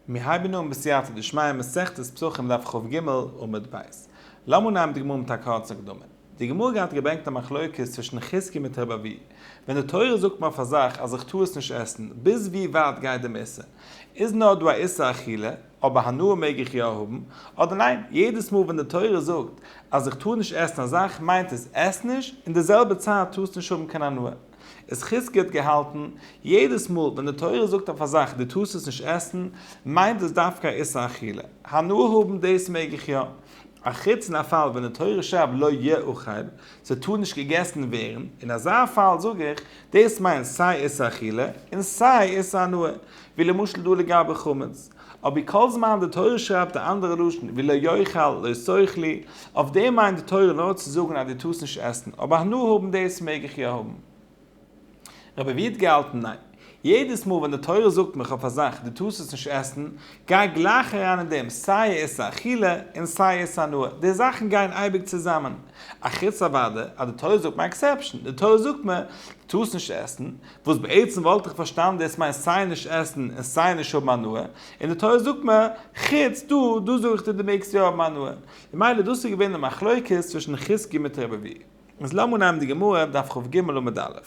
מיר הייבן אן בסייעתא דשמיא מסכת פסחים דף כג עמוד ב'. לאמיר נעמען די גמרא מיט א קורצן הקדמה. די גמרא גייט געברענגט א מחלוקת צווישן חזקי מיט רב אבי. ווען די תורה זאגט מען אויף א זאך אז איך טאר עס נישט עסן, ביז ווי ווייט גייט דעם איסור? איז נאר דא א איסור אכילה, אבער הנאה מעג איך יא האבן, אדער ניין? יעדעס מאל ווען די תורה זאגט אז איך טאר נישט עסן א זאך מיינט עס, עס נישט, אין די זעלבע צייט טארסטו נישט האבן קיין הנאה. איז חזקי האט געהאלטן, יעדעס מאל ווען די תורה זאגט אויף א זאך דו טארסט עס נישט עסן, מיינט דאס דווקא א איסור אכילה. הנאה האבן דאס מעג איך יא. א חוץ אין א פאל ווען די תורה שרייבט לא יאכל, ס'טאר נישט געגעסן ווערן, אין אזא פאל זאג איך, דאס מיינט סיי איסור אכילה, און סיי איסור הנאה. ווי למשל דא לגבי חמץ. אבי כל זמן די תורה שרייבט א אנדערע לשון ווי לא יאכל לא שכלי, אויף דעם מיינט די תורה נאר צו זאגן אז דו טארסט נישט עסן, אבער הנאה האבן דאס מעג איך יא האבן. רבי ווי האט געהאלטן ניין, יעדעס מאל ווען די תורה זאגט מיך אויף א זאך דו טארסט עס נישט עסן, גיי גלייך אריין אין דעם סיי עס איז אכילה און סיי עס איז הנאה, די זאכן גייען אייביג צוזאמען, אחוץ אוודאי אז די תורה זאגט מיר א עקסעפשאן, די תורה זאגט מיר דו טארסט נישט עסן, וואס בעצם וואלט איך פארשטאנען דאס מיינט סיי נישט עסן און סיי נישט האבן הנאה, און די תורה זאגט מיר, חוץ דא, דא זאג איך דיר דו מעגסט יא האבן הנאה. ממילא דאס איז געווען די מחלוקת צווישן חז ג מיט רבב י. איז לאמיר נעמען די גמרא, דף כ ג עמוד א'.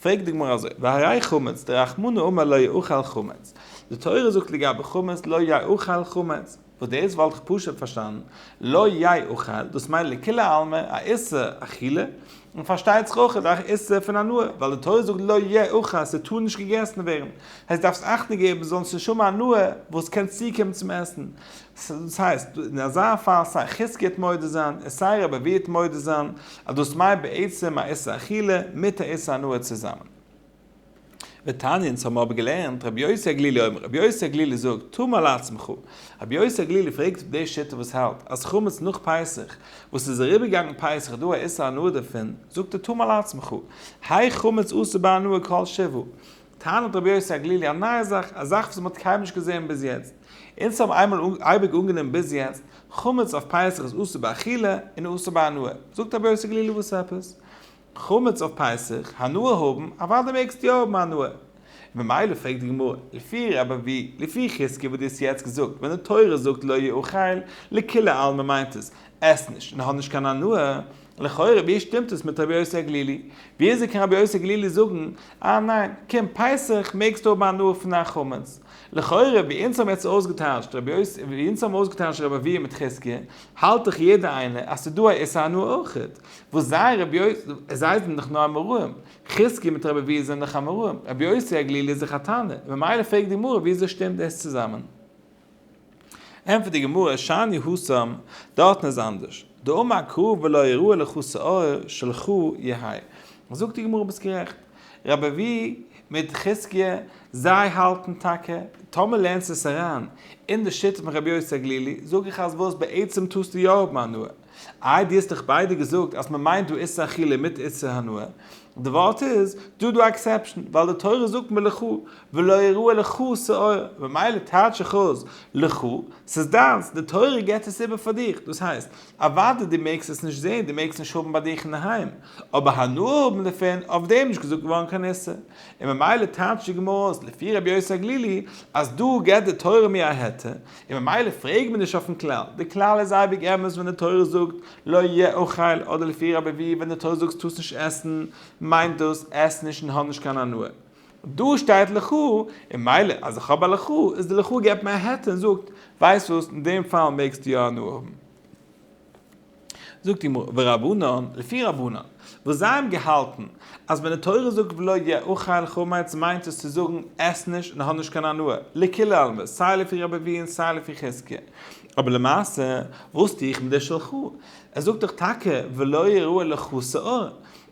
פרעגט די גמרא אזוי, והרי חמץ, דרחמנא אמר לא יאכל חמץ, די תורה זאגט לגבי חמץ לא יאכל חמץ, וואס דאס וואלט איך פשוט פארשטאנען לא יי אוכל, דאס מיינט לכולי עלמא א איסור אכילה, און פארשטייט זיך אויך א איסור פון הנאה, ווייל די תורה זאגט לא יי אוכל, ס'טאר נישט געגעסן ווערן, הייסט דארפסט אכטונג געבן זאל נישט האבן הנאה וואס קען צוקומען צום עסן, דאס הייסט אין אזא פאל סיי חזקי האט מודה זיין און סיי רבי אביי האט מודה זיין אז דאס מיינט בעצם א איסור אכילה מיט א איסור הנאה צוזאמען. ותניא, אונז האבן אבער געלערנט רבי יוסי הגלילי אומר, רבי יוסי הגלילי זאגט, טעמא לעצמך, רבי יוסי הגלילי פרעגט אויף די שיטה וואס האלט אז חמץ נאך פסח, וואס איז אריבערגעגאנגען פסח דא א איסור הנאה דערפון, זאגט ער טעמא לעצמך, האי חמץ אסור בהנאה כל שבעה, טענה'ט רבי יוסי הגלילי א נייע זאך, א זאך וואס מען האט קיינמאל נישט געזען ביז יעצט, אונז האבן איינמאל אייביג אנגענומען ביז יעצט, חמץ אויף פסח איז אסור באכילה און אסור בהנאה, זאגט רבי יוסי הגלילי וואס עפעס? חמץ אויף פסח, הנאה האבן, אוודאי מעגסטו יא האבן הנאה. און ממילא פרעגט די גמרא, לפי רב אבי, לפי חזקי וואס דו האסט יעצט געזאגט, ווען די תורה זאגט לא יאכל, לכולי עלמא מיינט עס, עס נישט און האב נישט קיין הנאה, לכאורה ווי שטימט עס מיט רבי יוסי הגלילי? ווי אזוי קען רבי יוסי הגלילי זאגן, אה ניין, קום פסח מעגסטו האבן הנאה פון דיין חמץ? לכאורה ווי אונז האבן יעצט אויסגעטייטשט רבי יוסי, ווי אונז האבן אויסגעטייטשט רב אבי' מיט חזקי, האלט דאך יעדער איינער אז ס'איז דא א איסור הנאה אויכעט. וואס זיי רבי יוסי, זיי זענען דאך נאר אמוראים, חזקי מיט רבי אביהר זענען דאך אמוראים, רבי יוסי הגלילי איז דאך א תנא, ממילא פרעגט די גמרא וויאזוי שטימט דאס צוזאמען? ענטפערט די גמרא שאני הוסם, דארטן איז אנדערש, דאמר הקרוב ולא יראה לך שעור של חו י האי, זאגט די גמרא ביסט גערעכט, רבי אביהר מיט חזקי זיי האלטן טאקע, טאמער לערנסט עס אריין אין די שיטה פון רבי יוסי הגלילי, זאג איך אז וואס בעצם טוסטו יא האבן הנאה, איי דו האסט דאך ביידע געזאגט אז מען מיינט דא איסור אכילה מיט איסור הנאה, די ווארט איז דא דא א עקסעפשן, ווייל די תורה זאגט מלכו, ולא יראה לך שעור, ממילא טייטש איך אויס לכו, ס'איז דיינס, די תורה געבט עס איבער פאר דיך, דאס הייסט, אוודאי דו מעגסט עס נישט זען, דו מעגסט נישט האבן ביי דיך אינדערהיים, אבער הנאה האבן דערפון, אויף דעם איז נישט געזאגט געווארן קיין איסור, און ממילא טייטשט די גמרא אויס לפי רבי יוסי הגלילי אז דא געבט די תורה מיר א היתר, און ממילא פרעג מיר נישט אויפן כלל, די כלל איז אייביג אמת ווען די תורה זאגט לא יאכל אדער לפי רבי ווי ווען די תורה זאגט טוסט נישט עסן מיינט דאס עס נישט און האב נישט קיין הנאה, דא שטייט לכו און מילא אז איך האב א לכו איז די לכו געבט מיר א היתר און זאגט ווייסט וואס אין דעם פאל מעגסטו יא הנאה האבן. זאגט די גמרא, ורבנן, לפי רבנן, וואס זיי האבן געהאלטן אז ווען די תורה זאגט ולא יאכל חמץ מיינט עס צו זאגן עס נישט און האב נישט קיין הנאה, לכולי עלמא, סיי לפי רבי אביי און סיי לפי חזקיה. אבער למעשה, וואס טו איך מיט די של ח? עס זאגט דאך טאקע ולא יראה לך שאור,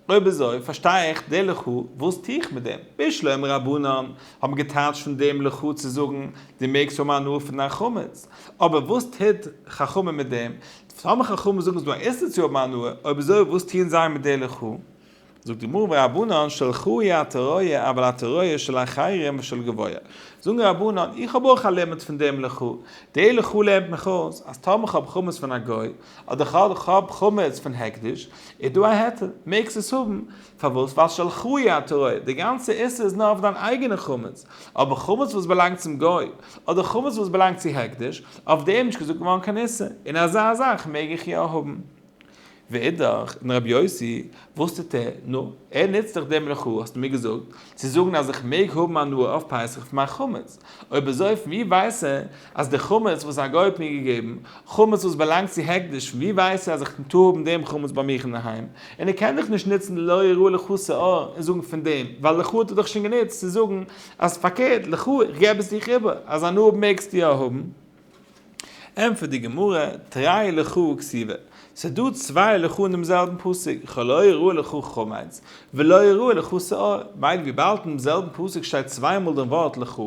אויב אזוי פארשטיי איך די לכו וואס טו איך מיט דעם? בישלום רבנן האבן געטייטשט פון דעם לכו צו זאגן דו מעגסט האבן הנאה פון דיין חמץ, אבער וואס טוט חכמים מיט דעם? טאמער חכמים זאגן ס'דא א איסור צו האבן הנאה, אויב אזוי וואס טוען זיי מיט די לכו? זאגט די גמרא ורבנן שלחו היא התראה אבל התראה של אחרים ושל גבוה, זאגן רבנן איך האב אויך א לימוד פון דעם לכו, די לכו לערנט מיך אויס אז טאמער כ'האב חמץ פון א גוי, אדער כהאב חמץ פון הקדש, איז דא א היתר, מעגסט עס האבן, פארוואס ווייל של חוה הטהור, די גאנצע איסור איז נאר אויף דיין אייגענע חמץ, אבער חמץ וואס באלאנגט צום גוי, אדער חמץ וואס באלאנגט צו הקדש, אויף דעם איז נישט געזאגט געווארן קיין איסור, און אזא זאך מעג איך יא האבן. ואידך, און רבי יוסי, וואס טוט ער? נו, ער נוצט דאך דעם לכאו' האסטו מיר געזאגט, צו זאגן אז איך מעג האבן הנאה אויף פסח פון מיין חמץ, אויב אזוי פון ווי ווייסט ער אז די חמץ וואס א גוי האט מיר געגעבן, חמץ וואס באלאנגט צו הקדש, פון ווי ווייסט ער אז איך טאר האבן דעם חמץ ביי מיך אינדערהיים, און ער קען דאך נישט נוצן לא יראה לך שאור און זאגן פון דעם, ווייל לך האט ער דאך שוין גענוצט צו זאגן אז פארקערט, לך איך געב עס דיך איבער, אז הנאה מעגסטו יא האבן. ענטפערט די גמרא, תראי לך כסיבה, ס'איז דא צוויי לך אין דעם זעלבן פסוק, כלא יראה לך חמץ, ולא יראה לך שעור, מילא וויבאלד אין דעם זעלבן פסוק שטייט צוויי מאל דעם ווארט לך,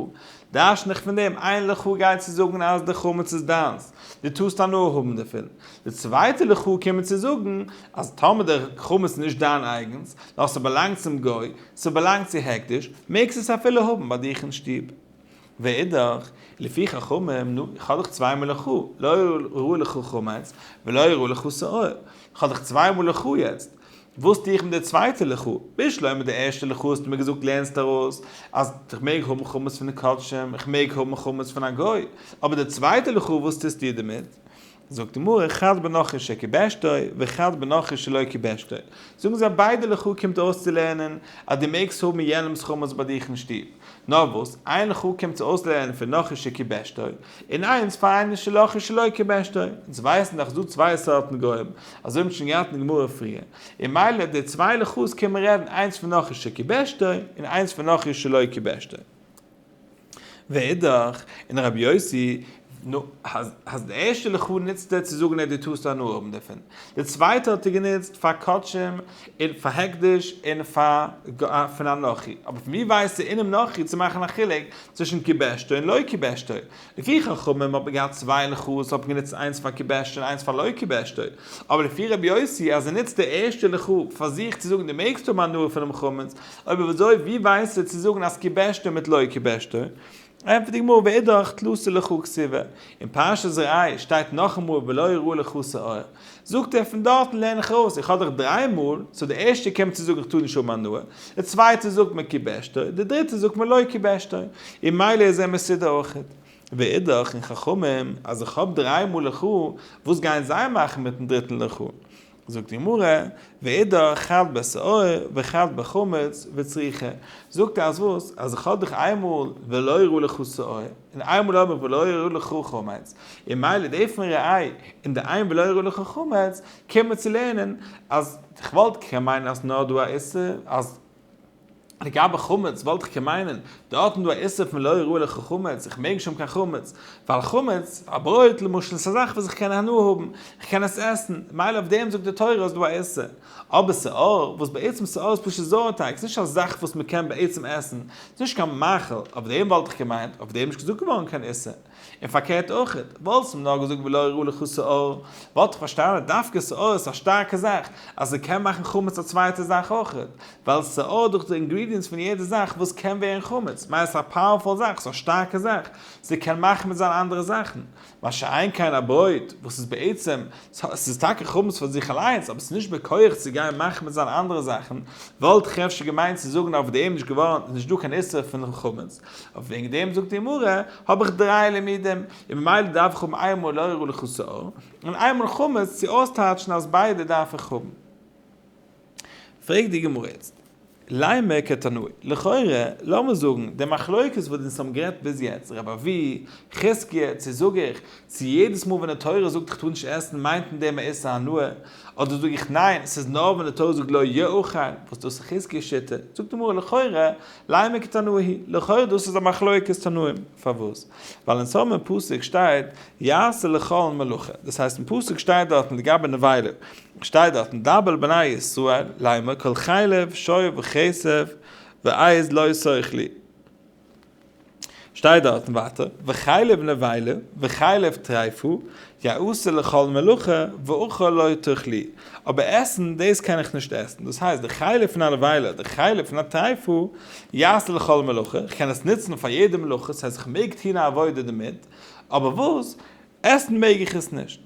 דרשן איך פון דעם איין לך גייט צו זאגן אז די חמץ איז דיינס, דו טארסט הנאה האבן דערפון, די צווייטע לך קומט מיר צו זאגן, אז טאמער דער חמץ איז נישט דיין אייגנס, נאר ס'באלאנגט צום גוי, ס'באלאנגט צו הקדש, מעגסט עס אפילו האבן ביי דיך אין שטוב. ואידך, לפי חכמים, נו, איך האב דאך צוויי מאל א חו, לא יראה לך חמץ, ולא יראה לך שעור. איך האב דאך צוויי מאל א חו יעצט. וואס טו איך מיט די צווייטע ל חו? בשלא מיט די ערשטע ל חו האסטו מיר געזאגט לערנסט ארויס אז איך מעג האבן חמץ פון די קדשים, איך מעג האבן חמץ פון א גוי. אבער די צווייטע ל חו וואס טוסטו דערמיט? זאגט די מרא חד בנכר שקיבשתו וחד בנכר שלא קיבשתו, זאגן זיי ביידע לכאו' קומט אויס צו לערנען אז דו מעגסט האבן יענעמס חמץ ביי דיך אין שטוב, נאר וואס איין לכאו' קומט צו אויס לערנען פון נכר שקיבשתו און איינס פאר איינער של נכר שלא קיבשתו, אונז ווייסן דאך ס'דא צוויי סארטן גוים, אזוי האבן מיר שוין געהאט אין די גמרא פריער, און מילא די צוויי לכאו'ס קען מען רעדן איינס פון נכר שקיבשתו און איינס פון נכר שלא קיבשתו. ואידך, און הרב יוסי, נו, אז די ערשטע לכאו' נוצט ער צו זאגן אז דו טארסט הנאה האבן דערפון, די צווייטע האט ער גענוצט פאר קדשים און פאר הקדש און פון אנכי, אבער פון וואו ווייסטו אינעם אנכי צו מאכן א חילוק צווישן כיבשתו און לא כיבשתו? לפי חכמים האט מען געהאט צוויי לוחות, האט מען גענוצט איינס פאר כיבשתי און איינס פאר לא כיבשתי, אבער לפי רבי יוסי אז ער נוצט די ערשטע לכה פ פאר זיך צו זאגן דו מעגסט האבן הנאה פונעם חמץ, אויב אויב אזוי ווי ווייסטו צו זאגן אז כיבשתי מיט לא כיבשתי? ענטפערט די גמרא ואידך תלסו לכה כסיבה, אין פרשת זרעי שטייט נאכאמאל ולא יראה לכה שעור, זאגט ער פון דארטן לערן איך אויס, איך האב דאך דריי מאל, סאו די ערשטע קומט צו זאגן איך טאר נישט האבן הנאה, די צווייטע זאגט מען קיבשתו, די דריטע זאגט מען לא קיבשתו, און מילא איז ער מסודר אויכעט. ואידך, און חכמים, אז איך האב דריי מאל לכו, וואס גייען זיי מאכן מיטן דריטן לכו? זאגט די גמרא, ואידך, חד בשעור, וחד בחמץ, וצריכה, זאגט ער אז וואס, אז איך האב דאך איין מאל, ולא יראו לך שעור, און איין ולא אמר ולא העיר לך חמץ, און מילא די פון ר' איי און די איין ולא העיר לך חמץ קען מען צו לערנען אז כ'וואלט כ ק מיינען אז נאר דא א איסור אז לגבי חמץ וואלט כ ק מיינען דא האט מען דא א איסור פון לא העיר לך חמץ איך מעג נישט האבן קיין חמץ ווייל חמץ א ברויט למשל איז א זאך וואס איך קען הנאה האבן איך קען עס עסן מילא אויף דעם זאגט די תורה אז דא א איסור. אבער סאור, וואס בעצם סאור איז פשוט זויער טייג, ס'איז נישט א זאך וואס מ'קען בעצם עסן, ס'איז נישט קיין מאכל, אויף דעם וואלט איך געמיינט, אויף דעם איז נישט געזאגט געווארן קיין איסור, און פארקערט אויכעט, וואלטסט מיר נאר געזאגט ולא הראו לך סאור, וואלט איך פארשטאנען אז דווקא סאור איז א שטארקע זאך, אז ס'קען מאכן חמץ א צווייטע זאך אויכעט, ווייל סאור דורך די אינגרידיענטס פון יעדע זאך וואס קען ווערן חמץ, מיינט עס איז א פאוערפול זאך, ס'איז א שטארקע זאך, ס'קען מאכן מיט זיין אנדערע זאכן, מה שאין כן א ברויט וואס איז בעצם, ס'איז טאקע חמץ פאר זיך אליינס אבער ס'איז נישט בכח צו גיין מחמץ זיין אנדערע זאכן, וואלט איך אפשר געמיינט צו זאגן אויף דעם נישט געווארענט איז נישט דא קיין איסור פון חמץ, אבער וועגן דעם זאגט די גמרא האב איך דריי לימודים, און ממילא דארף איך האבן איינמאל לאור ולחסור, און איינמאל חמץ צו אויסטייטשן אז ביידע דארף איך האבן. פרעגט די גמרא יעצט, למה כתנאי, לכאורה לאמיר זאגן די מחלוקת וואס אונז האבן גערעדט ביז יעצט, רב אבי, חזקיה, צו זאג איך, צו יעדעס מאל ווען די תורה זאגט איך טאר נישט עסן מיינט אין דעם א איסור הנאה, אדער זאג איך ניין, ס'איז נאר ווען די תורה זאגט לא יאכל, וואס דאס איז חזקיה שיטה, זאגט די גמרא לכאורה, למה כתנאי, לכאורה דאס איז א מחלוקת תנאים, פארוואס? ווייל אונז האבן אין פסוק שטייט יעשה לכל מלאכה, דאס הייסט אין פסוק שטייט דארטן לגבי נבילה, שטייט דארט און דבר בני ישראל ליימר כל חלב שור וכסף ועז לא שכלי שטייט דארט און ווייטער וחלב נבילה וחלב טריפה יעשה לכל מלאכה ואוכל לא תאכלי אבער עסן דאס קען איך נישט עסן דאס הייסט די חלב פון א נבילה די חלב פון א טריפה יעשה לכל מלאכה איך קען עס נוצן פאר יעדע מלאכה ס'הייסט איך מעג טון א עבודה דערמיט אבער וואס עסן מעג איך עס נישט.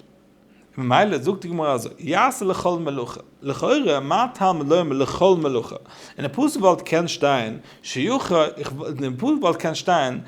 ממילא זאגט די גמרא אזוי, יעשה לכל מלאכה, לכאורה מה טעם לומר לכל מלאכה, אין די פסוק וואלט געקענט שטיין, שיוכ ה, אין די פסוק וואלט געקענט שטיין,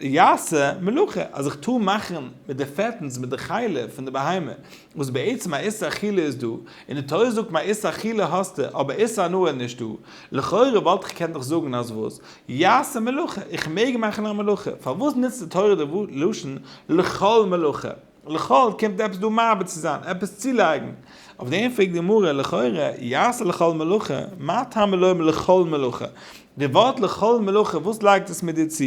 יעשה מלאכה, אז איך טאר מאכן מיט די פעטנס מיט די חלה פון די בהמה, וואס בעצם א איסור אכילה איז דא, און די תורה זאגט מיר א איסור אכילה האסטו אבער איסור הנאה איז נישטא, לכאורה וואלט איך געקענט נאך זאגן אז וואס? יעשה מלאכה, איך מעג מאכן א מלאכה, פארוואס נוצט די תורה די לשון לכל מלאכה? לכל קומט עפעס דא מעביר צו זיין, עפעס צולייגן. אויף דעם פרעגט די גמרא, לכאורה, יעשה לכל מלאכה, מה טעמא לומר לכל מלאכה? די ווארט לכל מלאכה וואס לייגט עס מיר דיר צו?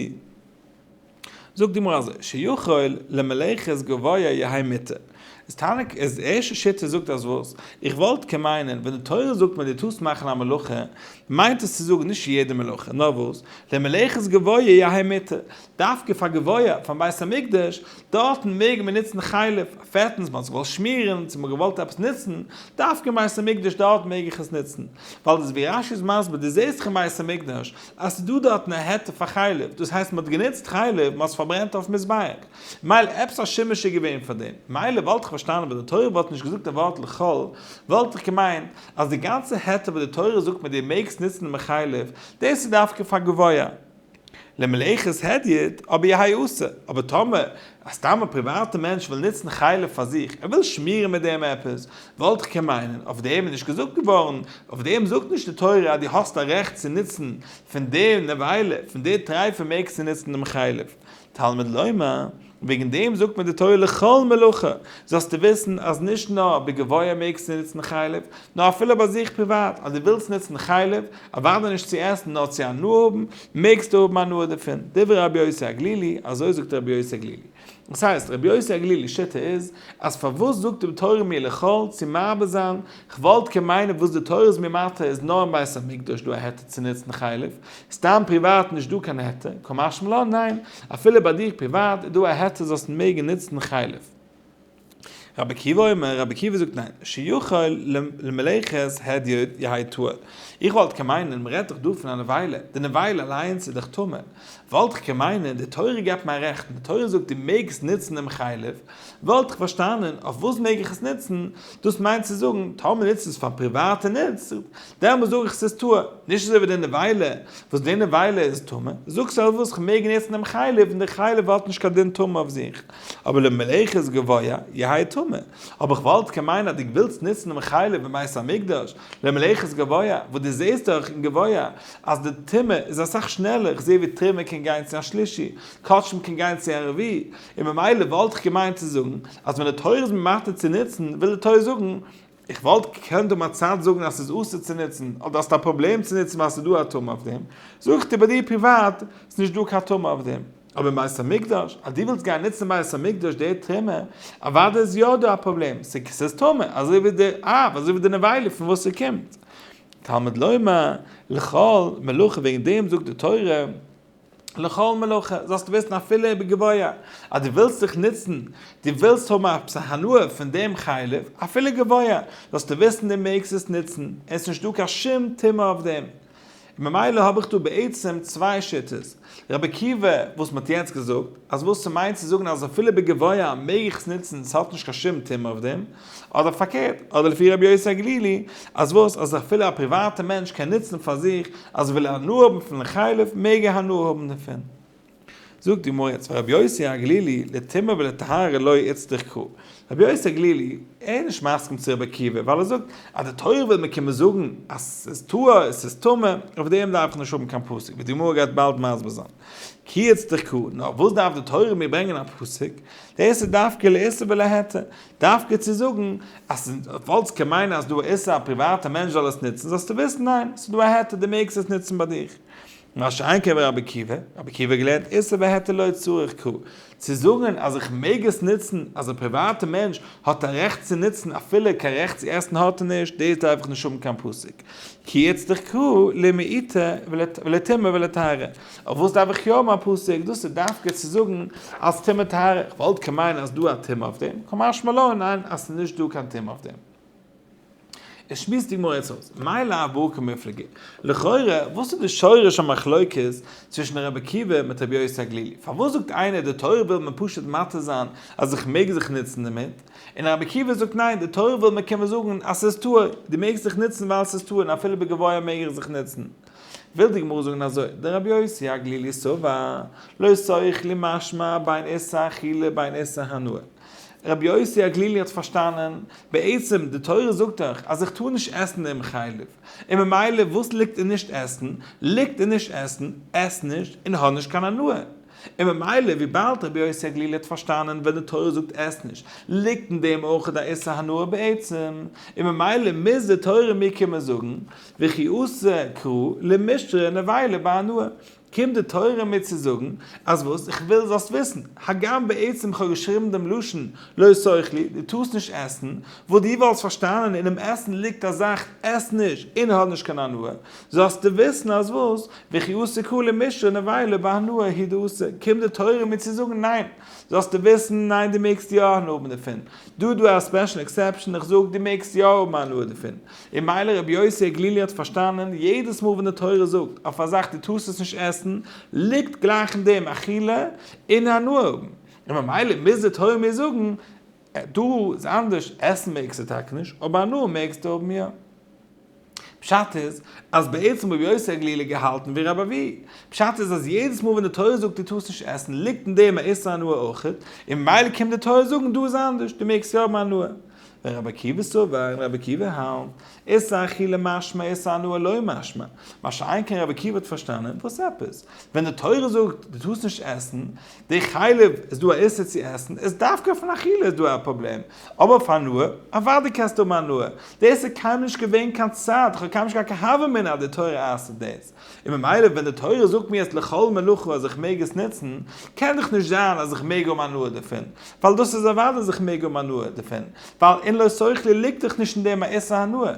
זאגט די גמרא אזוי, שיכול למלאכת גביה יהא מותר. איז תענוג איז די ערשטע שיטה זאגט אז וואס? איך וואלט קען מיינען ווען די תורה זאגט מיר דו טארסט מאכן א מלאכה מיינט עס צו זאגן נישט יעדע מלאכה נאר וואס? למלאכת גביה יהא מותר. דווקא פאר גבוה, פארן בית המקדש, דארטן מעג מען נוצן חלב, פעטנס, מ'האט זיך געוואלט שמירן, צו מ'האט געוואלט עפעס נוצן, דווקא אין בית המקדש דארט מעג איך עס נוצן, ווייל דאס ווי רש י איז מסביר, דו זעסט דאך אין בית המקדש אז ס'איז דא דארטן א היתר פאר חלב, דאס הייסט מ'האט גענוצט חלב, מ'האט עס פארברענט אויפן מזבח, מילא עפעס א שימוש איז געווען פאר דעם, מילא וואלט איך פארשטאנען ווען די תורה וואלט נישט געזאגט דעם ווארט לכל, וואלט איך געמיינט אז די גאנצע היתר וואס די תורה זאגט מיר דו מעגסט נוצן דעם חלב, דאס איז דווקא פאר גבוה. למלאכת הדיוט אבער י ה יעשה, אבער טאמער א סתם א פריוואטע מענטש וויל נוצן חלב פאר זיך, ער וויל שמירן מיט דעם עפעס, וואלט איך קען מיינען, אויף דעם איז נישט געזאגט געווארן, אויף דעם זאגט נישט די תורה אז דו האסט א רעכט צו נוצן פון די נבילה, פון די טרייפע מעגסטו נוצן דעם חלב, תלמוד לומר. וועגן דעם זאגט מען די תורה לכל מלאכה, זאלסטו וויסן אז נישט נאר בגבוה מעגסטו נוצן חלב, נאר אפילו ביי זיך פריוואט, אז דו ווילסט נוצן חלב, אוודאי נישט צו עסן נאר צו הנאה האבן, מעגסטו האבן הנאה דערפון, דברי רבי יוסי הגלילי, אזוי זאגט רבי יוסי הגלילי. דאס הייסט, רבי יוסי הגלילי שיטה איז, אז פארוואס זאגט די תורה מיר לכל צו מרבה זיין, כ'וואלט קען מיינען וואס די תורה איז מיר מתיר איז נאר אין בית המקדש דא א היתר צו נוצן חלב, סתם פריוואט נישט דא קיין היתר, כמשמע לן ניין, אפילו ביי דיר פריוואט איז דא א היתר זאלסט מעגן נוצן חלב. רבי עקיבא אומר, רבי עקיבא זאגט ניין, שיכול למלאכת הדיוט יהי' טהור. איך וואלט קען מיינען מען רעדט דאך דא פון א נבילה, די נבילה אליינס איז דאך טמא, וואלט איך קען מיינען די תורה געבט מיין רעכטן, די תורה זאגט דו מעגסט נוצן דעם חלב, וואלט איך פארשטאנען אויף וואס מעג איך עס נוצן, דאס מיינט צו זאגן טאמער נוצט עס פאר פריוואטע נוצט, דעמאלס זאג איך ס'איז טהור, נישט אזוי ווי די נבילה, וואס די נבילה איז טמא, זאגסט אויף וואס כ'מעג נוצן דעם חלב, און די חלב האט נישט קיין דין טומאה אויף זיך, אבער למלאכת גביה יהי' טמא, אבער כ'וואלט כמיין אז די ווילסט נוצן דעם חלב אין בית המקדש למלאכת גביה, וואס די זעהסט דאך אין גביה אז די טומאה איז אסאך שנעלער, כ'זעה ווי תרומה קען גיין צו א שלישי, קאטשמע קען גיין צו א רביעי, און ממילא וואלט כ'געמיינט צו זאגן אז ווען די תורה איז ממאטר צו נוצן, וויל די תורה זאגן, איך וואלט געקענט אום א צייט זאגן אז ס'איז אסור צו נוצן, אדער האסט א פראבלעם צו נוצן ווייל ס'איז דא א טומאה אויף דעם, זאג איך דיר ביי דיר פריוואט, ס'איז נישט דא קיין טומאה אויף דעם. אבער אין בית המקדש, אז דו ווילסט גיין נוצן אין בית המקדש די טרימער, אוודאי איז יא דא א פראבלעם, ס'איז טומאה, אזוי ווי די אב, אזוי ווי די נבילה פון וואס ס'קומט. תלמוד לומר, לכל, מלאכה וועגן דעם זאגט די תורה, לכל מלאכה, זאלסטו וויסן אפילו איבער גבוה, אז דו ווילסט זיך נוצן, דו ווילסט האבן עפעס א הנאה פון דעם חלב, אפילו גבוה, זאלסטו וויסן דו מעגסט עס נוצן, און עס איז נישטא קיין שום טומאה אויף דעם. און ממילא האב איך דא בעצם צוויי שיטות, רבי עקיבא וואס מען האט יעצט געזאגט, אז וואס ס'מיינט צו זאגן אז אפילו איבער גבוה מעג איך עס נוצן, ס'האט נישט קיין שום טומאה אויף דעם, אדער פארקערט, אדער לפי רבי יוסי הגלילי, אז וואס, אז אפילו א פריוואטע מענטש קען נוצן פאר זיך, אז ער וויל הנאה האבן פון לחלב, מעג ער הנאה האבן דערפון. זאגט די גמרא, צוויי רבי יוסי הגלילי, לטומאה ולטהרה לא איצטרך כ. רבי יוסי הגלילי, ער איז נישט מסכים צו רבי עקיבא, ווייל ער זאגט, אז די תורה וויל מיר קומען זאגן, אז עס איז טהור, עס איז טמא, אויף דעם דארף איך נישט האבן קיין פסק, ווי די גמרא גייט באלד מסביר זיין. כי איצטרך כ. נאר וואס דארף די תורה מיר ברענגען א פסק? דאס איז דווקא לאיסור ולהיתר. דווקא צו זאגן אז פאלס קען מיינען אז דא א איסור א פריוואטע מענטש זאל עס ניצן זאלסטו וויסן ניין ס'איז דא א היתר דו מעגסט עס ניצן ביי דיך מה שאין כן ביי רבי עקיבא, רבי עקיבא האט געלערנט איסור והיתר לא צריך כ צו זאגן אז איך מעג עס ניצן אז א פריוואטע מענטש האט א רעכט צו ניצן אפילו קיין רעכט צו עסן האט ער נישט דאס דארף איך נישט האבן קיין פסק כי יצטרך כ למעיטה ולטמאה ולטהרה. אויף וואס דארף איך יא האבן א פסק? דאס איז דווקא צו זאגן אז טומאה טהרה, איך וואלט כמיין אז דא א טומאה אויף דעם, כמשמע לן, ניין אז ס'איז נישט דא קיין טומאה אויף דעם. עס שמועסט די גמרא יעצט אויס, מילא א ברכו מפלגה, לכאורה וואס איז די שורש המחלוקת צווישן רבי עקיבא מיט רבי יוסי הגלילי? פארוואס זאגט איינער די תורה וויל מיר פשוט מתיר זיין אז איך מעג זיך נוצן דערמיט, און רבי עקיבא זאגט ניין די תורה וויל מיר קומען זאגן אז ס'איז טהור, דו מעגסט זיך נוצן ווייל ס'איז טהור און אפילו בגביה מעג איך זיך נוצן. וויל די גמרא זאגן אזוי, דער רבי יוסי הגלילי סבר, לא צריך לי משמע בין עשה אכילה בין עשה הנאה. רבי יוסי הגלילי האט פארשטאנען, בעצם די תורה זאגט דאך אז איך טאר נישט עסן דעם חלב, און ממילא וואס ליגט אין נישט עסן? ליגט אין נישט עסן, עס נישט און האב נישט קיין הנאה. און ממילא וויבאלד רבי יוסי הגלילי האט פארשטאנען ווען די תורה זאגט עס נישט, ליגט אין דעם אויך א איסור הנאה בעצם, און ממילא מוז די תורה מיר קומען זאגן, וכי עשה קרא למשרה נבילה בהנאה, קומט די תורה מיר צו זאגן אז וואס? איך וויל זאלסט וויסן, הגם בעצם איך האב געשריבן דעם לשון לא תאכלי, דו טארסט נישט עסן, וואס דו וואלסט פארשטאנען אינעם עסן ליגט א זאך, עס נישט און האב נישט קיין הנאה, זאלסטו וויסן אז וואס? וכי עשה קרא למשרה נבילה בהנאה היא דעשה, קומט די תורה מיר צו זאגן ניין, זאלסטו וויסן ניין דו מעגסט יא הנאה האבן דערפון, דא דא א ספעשל עקסעפשן, איך זאג דו מעגסט יא האבן הנאה דערפון, און מילא רבי יוסי הגלילי האט פארשטאנען, יעדעס מאל ווען די תורה זאגט אויף א זאך דו טארסט עס נישט עסן, ליגט גלייך אין דעם אכילה און הנאה האבן, און ממילא מוז די תורה מיר זאגן, דא איז אנדערש, עסן מעגסטו טאקע נישט, אבער הנאה מעגסטו האבן יא. פשט איז, אז בעצם רבי יוסי הגלילי האט געהאלטן ווי רבי אבי. פשט איז אז יעדעס מאל ווען די תורה זאגט דו טארסט נישט עסן, ליגט אין דעם א איסור הנאה אויכעט, און ממילא קומט די תורה זאגן דא איז אנדערש, דו מעגסט יא האבן הנאה. ווען רבי עקיבא סובר און רבי עקיבא האלט, איסר אכילה למשמע איסר הנאה לא משמע, מה שאין כן רבי עקיבא האט פארשטאנען, וואס עפעס? ווען די תורה זאגט דו טארסט נישט עסן, די חלב, איז דא א איסור צו עסן, איז דווקא פון אכילה איז דא א פראבלעם, אבער אויף הנאה, אוודאי קענסטו האבן הנאה, דאס איז קיינמאל נישט געווען קיין צד, כ'האב קיינמאל נישט געהאט קיין הוה אמינא אז די תורה אסר'ט דאס. און ממילא ווען די תורה זאגט מיר עס לכל מלאכה אז איך מעג עס נוצן, קען דאך נישט זיין אז איך מעג האבן הנאה דערפון, ווייל דאס איז אוודאי אז איך מעג האבן הנאה דערפון, ווייל אין לא שכלי ליגט דאך נישט אין דעם א איסור הנאה,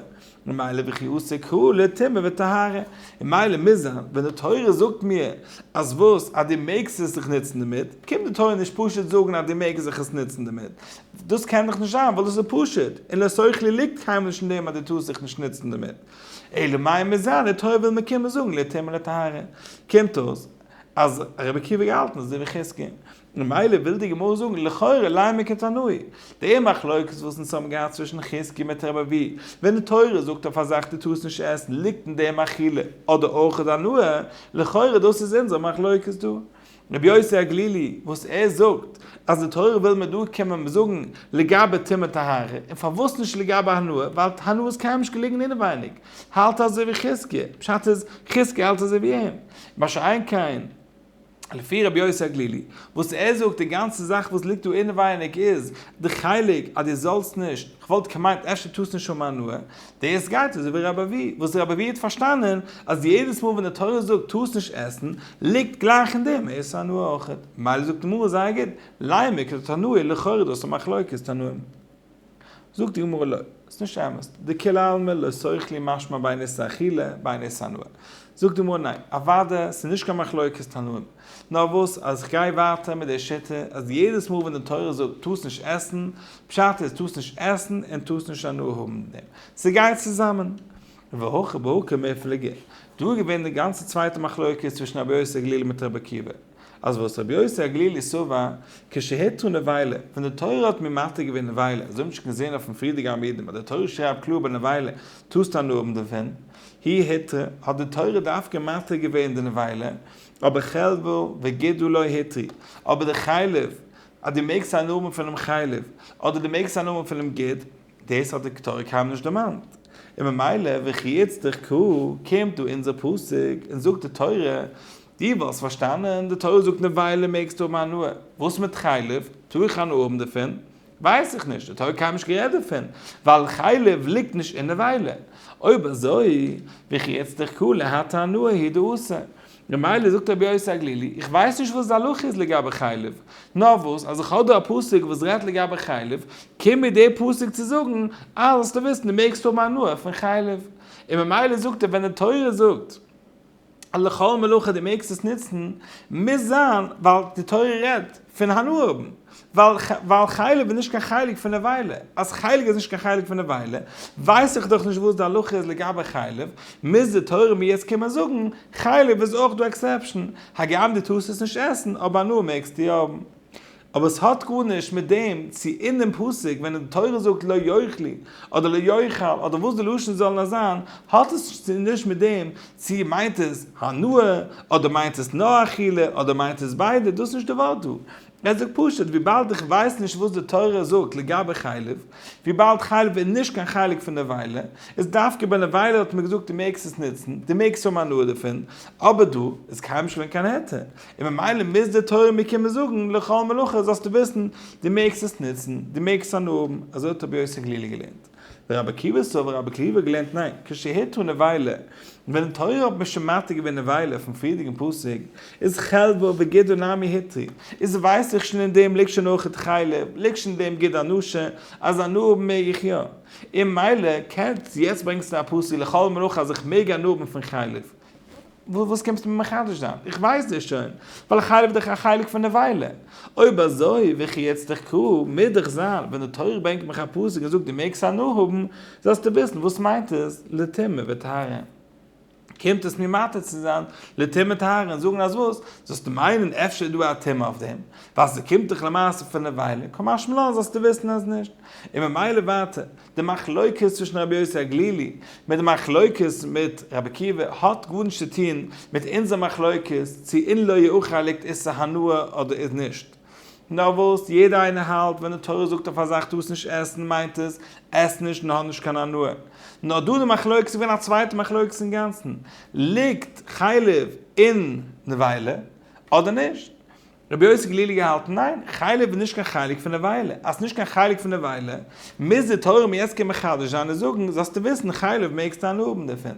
ממילא וכי עסק הוא לטומאה וטהרה, און מילא מוז זיין ווען די תורה זאגט מיר אז וואס אז דו מעגסט עס זיך נוצן דערמיט, קומט די תורה נישט פשוט זאגן אז דו מעגסט זיך עס נוצן דערמיט, דאס קען דאך נישט זיין ווייל דאס איז פשוט, אין לא שכלי ליגט קיינמאל נישט אין דעם אז דו טארסט זיך נישט נוצן דערמיט, אלא מאי מזיין די תורה וויל מען קומען זאגן להתיר מן הטהרה. קומט אויס אז רבי עקיבא האט געהאלטן אזוי ווי חזקי. און ממילא וויל די גמרא זאגן לכאורה לי' מק' תנאי. די מחלוקת וואס אונז האבן געהאט צווישן חזקי מיט רבי אבי ווען די תורה זאגט אויף א זאך דו טארסט נישט עסן ליגט אין דעם אכילה אדער אוכל הנאה, לכאורה דאס איז אונזער מחלוקת דא. רבי יוסי הגלילי וואס ער זאגט אז די תורה וויל מען דא קען מען זאגן לגבי טומאה טהרה און פארוואס נישט לגבי הנאה ווייל הנאה איז קיימאל נישט געלונגען אינעווייניג האלט אזוי ווי חזקיה פשט איז חזקיה האלט אזוי ווי אים מה שאין כן לפי רבי יוסי הגלילי וואס ער זאגט די גאנצע זאך וואס ליגט דא אינעווייניג איז די חלק אז די זאלסט נישט כ'וואלט געמיינט אפשר טוסט נישט האבן הנאה דעיס גייט אזוי ווי ר' אבי, וואס ר' אבי האט פארשטאנען אז יעדעס מאל ווען די תורה זאגט טוהסט נישט עסן, ליגט גלייך אין דעם איסור הנאה אויכעט, מילא זאגט די גמרא זייער גוט, לייען מיר כיתות הנאה, לכאורה איז דאס א מחלוקת תנאים. זאגט די גמרא לא, ס'איז נישט אמת, דכולי עלמא לא סוכלי משמע ביין איסור אכילה ביין איסור הנאה. זאגט די גמרא ניין, אוודאי ס'איז נישט קיין מחלוקת תנאים, נאר וואס אז איך גיי ווייטער מיט די שיטה אז יעדעס מאל ווען די תורה זאגט טוס נישט עסן, פשט איז טוס נישט עסן און טוס נישט הנאה האבן מיט דעם, ס'גייט צוזאמען. והכי בהכי מפלגה, דא איז געווען די גאנצע צווייטע מחלוקת צווישן רבי יוסי הגלילי מיט רבי עקיבא, אז וואס רבי יוסי הגלילי סבר כשהיתרו נבילה, ווען די תורה האט מיר מתיר געווען נבילה, אז אויב נישט קען זען אויפן פרידיגע עמודים אז די תורה שרייבט קלאר ביי נבילה טוסט הנאה האבן דערפון, היא היתרה, האט די תורה דווקא מתיר געווען די נבילה, אבער חלבו וגידו לא התרי, אבער די חלב, אז דו מעקסט א נאמען פונעם חלב, אדער דו מעקסט א נאמען פונעם גיד, דאס האט די קטורת קיינמאל נישט דערמאנט. און ממילא וכי יצטרך כ קומט דא אונזער פסוק און זאגט די תורה, דו וואלסט פארשטאנען, די תורה זאגט נבילה מעגסטו האבן הנאה, וואס מיט חלב, טאר איך הנאה האבן דערפון? ווייס איך נישט, האט ער קיינמאל נישט גערעדט דערפון, ווייל חלב ליגט נישט אינעווייל. אויב אזוי, וכי יצטרך כולה הטה הנאה היא דעושה. ממילא זאגט רבי יוסי הגלילי, איך ווייס נישט וואס די הלכה איז לגבי חלב, נאר וואס אז איך האב דא א פסוק וואס רעדט לגבי חלב, קומט מיר דער פסוק צו זאגן, אז זאלסטו וויסן דו מעגסט האבן הנאה פון חלב. און ממילא זאגט ער ווען די תורה זאגט. אז לכל מלאכה דו מעגסט עס נוצן, מוז זיין ווייל די תורה רעדט פון הנאה האבן, ווייל חלב איז נישט קיין חלק פון נבילה, אז חלב איז נישט קיין חלק פון נבילה, ווייס איך דאך נישט וואס די הלכה איז לגבי חלב, מוז די תורה מיר יעצט קומען זאגן, חלב איז אויך דא עקסעפשאן, הגם דו טארסט עס נישט עסן, אבער הנאה מעגסטו האבן. אבער עס האט גארנישט מיט דעם צו אין דעם פסוק ווען די תורה זאגט לא יאכלו אדער לא יאכל אדער וואס די לשון זאל נאר זיין האט עס נישט מיט דעם צו מיינט עס הנאה אדער מיינט עס נאר אכילה אדער מיינט עס ביידע דאס איז נישט די ווארט דא ער זאגט פשוט וויבאלד איך ווייס נישט וואס די תורה זאגט לגבי חלב וויבאלד חלב איז נישט קיין חלק פון נבילה איז דווקא ביי נבילה האט מען געזאגט דו מעגסט עס נוצן דו מעגסט האבן הנאה דערפון אבער דא איז קיינמאל נישט געווען קיין היתר און ממילא מוז די תורה מיר קומען זאגן לכל מלאכה זאלסטו וויסן, דו מעגסט עס נוצן, דו מעגסט עס הנאה האבן, אזוי האט רבי יוסי גלילי געלערנט. דער רבי עקיבא סובר רבי עקיבא האט געלערנט ניין, כשהיתרו נבילה, ווען די תורה האט מיר שוין מתיר געווען נבילה פון פריערדיגן פסוק, איז חלבו וגידו נמי היתרי, איז ווייס איך שוין אין דעם ליגט שוין אויך די חלב, ליגט שוין אין דעם גידו הנשה, אז הנאה האבן מעג איך יא. און ממילא קענסט יעצט ברענגסטו א פסוק לכל מלאכה אז איך מעג הנאה האבן פון חלב. וואס קומסטו מיר מחדש זיין? איך ווייס דאס שוין, ווייל איך האלב דאך א חלק פון נבילה. אויב אזוי, וויכי יצטרך ק מ דיך זיין, ווען די תורה ברענגט מיך א פסוק און זאגט דו מעגסט הנאה האבן, זאלסטו וויסן וואס מיינט עס לטומאה וטהרה. קומט עס מיר מתיר צו זיין לטומאה טהרה און זאגן אז וואס? זאלסטו מיינען אפשר איז דא א טעם אויף דעם, ווייל ס'קומט דאך למעשה פון נבילה, כמשמע לן זאלסטו וויסן אז נישט. און ממילא ווייטער, די מחלוקת צווישן רבי יוסי הגלילי מיט די מחלוקת מיט רבי עקיבא האט גארנישט צו טון מיט אונזער מחלוקת צו אין לא יאכל ליגט איסור הנאה אדער איז נישט נאר וואס יעדער איינער האלט ווען די תורה זאגט אויף א זאך טוסט נישט עסן מיינט עס עס נישט און האב נישט קיין הנאה נאר דא די מחלוקת איז געווען א צווייטע מחלוקת אינגאנצן ליגט חלב אין נבילה אדער נישט. רבי יוסי גלילי געהאלטן, ניין, חלב איז נישט קיין חלק פון נבילה, אז ס'נישט קיין חלק פון נבילה, מוז די תורה מיר יעצט קומען מחדש זיין און זאגן, זאלסטו וויסן, חלב מעגסטו הנאה האבן דערפון.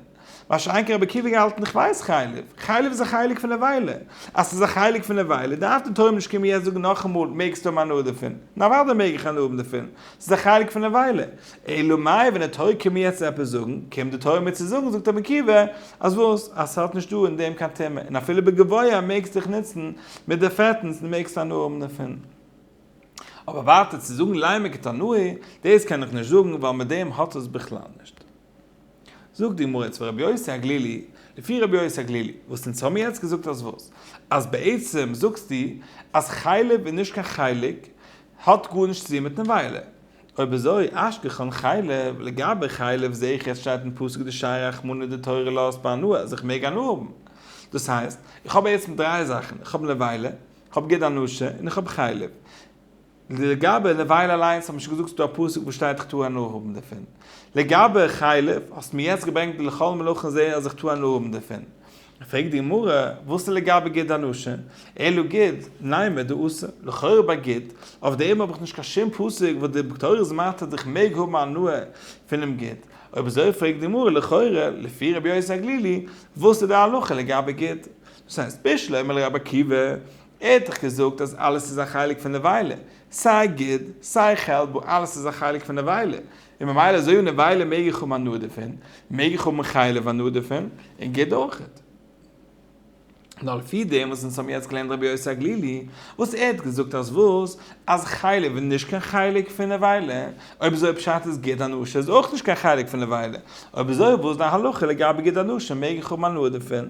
מה שאין כן רבי עקיבא געהאלטן, כ'ווייס חלב, חלב איז א חלק פון נבילה, אז ס'איז א חלק פון נבילה, דארף די תורה מיר נישט קומען יעצט זאגן נאכאמאל, מעגסטו האבן הנאה דערפון. נארוואדאי מעג איך הנאה האבן דערפון, ס'איז א חלק פון נבילה. אלא מאי ווען די תורה קומט מיר יעצט צו עפעס זאגן, קומט די תורה מיר צו זאגן זאגט רבי עקיבא, אז וואס? אז ס'האט נישט דא אין דעם קיין טעמע, און אפילו בגבוה מעגסט דיך נוצן מיט די פעטנס און מעגסט הנאה האבן דערפון. אבער ווייטער צו זאגן ליימער קטנאי, דאס קען איך נישט זאגן ווייל מיט דעם האט עס בכלל נישט. זאגט די גמרא צוויי רבי יוסי הגלילי, לפי רבי יוסי הגלילי, וואס אונז האמיר יעצט געזאגט אז וואס? אז בעצם זאגסטו אז חלב איז נישט קיין חלק האט גארנישט צו טון מיטן וויילער. אויב אזוי אשכחן חלב, לגבי חלב זעה איך עס שטייט אין פסוק דשעי רחמנא דתורה לאהסט בהנאה אז איך מעג הנאה האבן. דאס הייסט, איך האב בעצם דריי זאכן, איך האב נבילה, איך האב ג-ט אנושה און איך האב חלב. לגבי נבילה אליינס האט מען שוין געזאגט ס'דא א פסוק וואו שטייט איך טאר הנאה האבן דערפון. לגבי חלב, האסט מיר יעצט געברענגט די לכל מלאכן זעה אז איך טאר הנאה האבן דערפון. פרעגט די גמרא, וואס איז לגבי גיד אנשים? אלא גיד, ניימא דאסור, לכאורה ביי גיד, אויף דעם האב איך נישט קיין שום פסוק וואס די תורה זמרת אז איך מעג האבן הנאה פונעם גיד, אויב אזוי פרעגט די גמרא, לכאורה, לפי רבי יוסי הגלילי, וואס איז די הלכה לגבי גיד? דאס הייסט, בישלא אמר לי רבי עקיבא, ער האט דאך געזאגט אז אלעס איז א חלק פון נבילה, סיי גיד, סיי חלבו אלעס איז א חלק פון נבילה, און ממילא אזוי אן עוולה מעג איך האבן הנאה דערפון, מעג איך האבן חלב הנאה דערפון, און גוט אויכעט. נאר לפי דעם וואס אונז האבן יעצט געלערנט רבי יוסי הגלילי, וואס ער האט געזאגט אז וואס? אז חלב איז נישט קיין חלק פון עוולה, אויב אזוי פשט איז גוט הנאה איז אויך נישט קיין חלק פון עוולה, אויב אזוי וואס איז די הלכה לגבי גוט הנאה מעג איך האבן הנאה דערפון?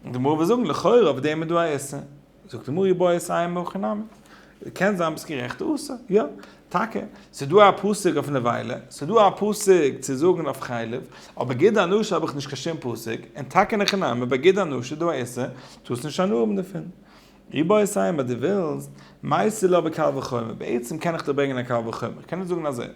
די גמרא וועט זאגן לכאורה אויף דעם איז דא א איסור. זאגט די מרי בויער סיי עם הכי נמי. קען זיין ביסט גערעכט עשה. יא. טאקע. ס'איז דא א פסוק אויף נבילה. ס'איז דא א פסוק צו זאגן אויף חלב. אויף בגד הנשה האב איך נישט קיין שום פסוק. און טאקע אין הכי נמי בגד הנשה איז דא א עשה. טוהסט נישט הנאה דערפון. מרי בויער סיי עם אז דו ווילסט. מאיסר לו בקל וחומר. בעצם קען איך דיר ברענגען א קל וחומר. קען איך זאגן אזוי.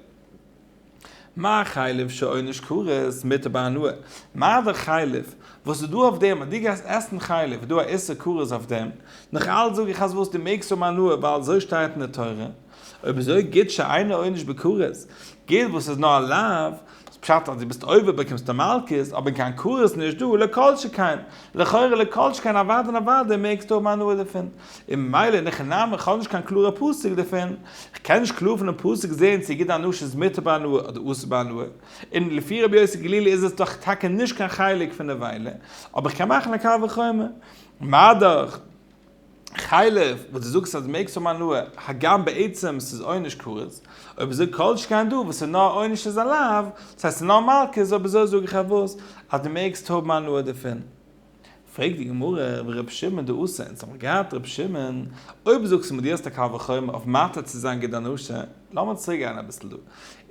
מה חלב שעונש כרת מיתה בהנאה? מה די חלב וואס איז דא אויף דעם אז דו גייסט עסן חלב איז דא א איסור כרת אויף דעם? נאך אלץ זאג איך אז וואס דו מעגסט האבן הנאה ווייל אזוי שטייט אין די תורה. אויב אזוי גוט שאינו עונש בכרת, גוט וואס איז נאר א לאו, איז פשט אז דו ביסט עובר באקומסטו מלקות, אבער קיין כרת נישט דא, לא כל שכן, לכאורה לא כל שכן אוודאי און אוודאי מעגסטו האבן הנאה דערפון. און ממילא אין איך נעם איך האב נישט קיין קלארע פסק דערפון, איך קען נישט קלאר פונעם פסק זעהן צו גיט הנאה איז מותר בהנאה אדער אסור בהנאה, און לפי רבי יוסי גלילי איז עס דאך טאקע נישט קיין חלק פון נבילה, אבער איך קען מאכן א קל וחומר, מאדאך חלב וואס דו זאגסט אז מעגסט האבן הנאה הגם בעצם ס'איז עונש כרת, אויב אזוי כל שכן דא וואס איז נאר עונש איז עליו, דאס הייסט ס'איז נאר מלקות אויב אזוי זאג איך אויף וואס אז דו מעגסט האבן הנאה דערפון. פרעגט די גמרא רבי ר' שמעון די עשה אונז האמיר געהאט ר' שמעון, אויב זאגסטו מיט יעצט א קל וחומר אויף מאתר צו זיין געדער נשה, לאמיר צוריק גיין אביסל דא,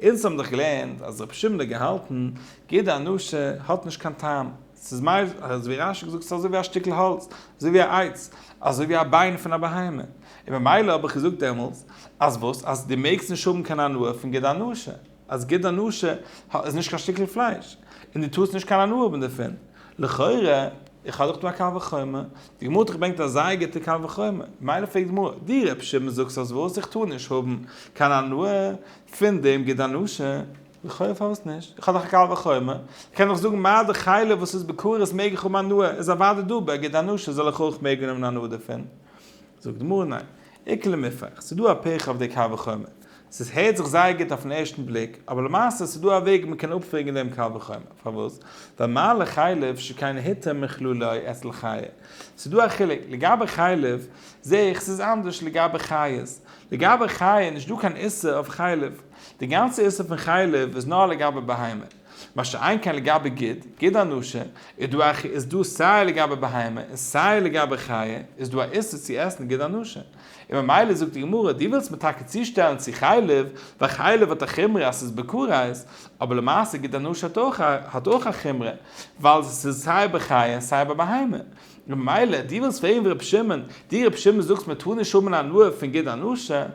אונז האבן דאך געלערנט אז רבי שמעון האט געהאלטן געדער נשה האט נישט קיין טעם, ס'איז מייז, אזוי ווי רש י זאגט ס'איז אזוי ווי א שטיקל האלץ, אזוי ווי א עץ, אזוי ווי א ביין פון א בהמה, און ממילא האב איך געזאגט דעמאלטס אז וואס אז דו מעגסט נישט האבן קיין הנאה פון געדער נשה. אז גוט דיין נאשע איז נישט קיין שטיקל פלייש, און דו טארסט נישט קיין הנאה האבן דערפון. לכאורה, איך האב דאך דא א קל וחומר, די גמרא האט דאך געברענגט א זייער גוטע קל וחומר, ממילא פרעגט די גמרא, דו ר' שמעון זאגסט אז וואס? איך טאר נישט האבן קיין הנאה פון דעם גוט דיין נאשע, לכאורה פארוואס נישט? איך האב דאך א קל וחומר, איך קען דאך זאגן מה די חלב וואס איז בכרת מעג איך האבן הנאה, איז אוודאי דא ביי גוט דיין נאשע זאל איך אויך מעגן האבן הנאה דערפון. זאגט די גמרא ניין, איכא למיפח, ס'איז דא א פרח אויף די קל וחומר, ס'איז הערט זיך זייער גוט אויפן ערשטן בליק, אבער למעשה ס'איז דא א וועג מען קען אפפרעגן דעם קל וחומר, פארוואס? ווייל מה לחלב שכן היתר מכלו לא את לחיה, ס'איז דא א חילוק, לגבי חלב זעה איך ס'איז אנדערש לגבי חיות, לגבי חיה איז נישטא קיין איסור אויף חלב, די גאנצע איסור פון חלב איז נאר לגבי בהמה. מה שאין כן לגבי גיד, גיד אנושה, איז דא א איז דא סיי לגבי בהמה און סיי לגבי חיה איז דא א איסור צו עסן גיד אנושה. און ממילא זאגט די גמרא, דו ווילסט מיר טאקע צושטעלן צו חלב, ווייל חלב האט א חומרא אז ס'איז בכרית, אבער למעשה גיד אנושה האט אויך א האט אויך א חומרא, ווייל ס'איז סיי ביי חיה און סיי ביי בהמה. און ממילא, דו ווילסט פרעגן ווי רבי שמעון, דו רבי שמעון זאגסט מ'טאר נישט האבן הנאה פון גיד אנושה,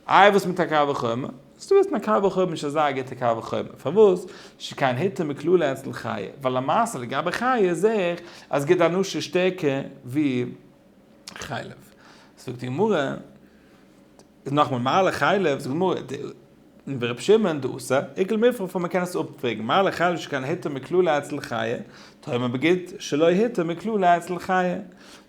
איי וואס מיט א קל וחומר? וואס דו ווילסט מיט א קל וחומר נישט אזא גוטע קל וחומר, פארוואס? שכן היתר מקללה אצל חיה, ווייל למעשה לגבי חיה זעה איך אז גיט די אנושה שטערקער ווי חלב, זאגט די גמרא, איז נאכמער מעלה חלב, זאגט די גמרא, די און ווי ר' שמעון דאסא, עיקל מפרע פון מ'קען עס אפפרעגן, מעלה חלב שכן היתר מקללה אצל חיה, טועם אבער גיט שלא היתר מקללה אצל חיה,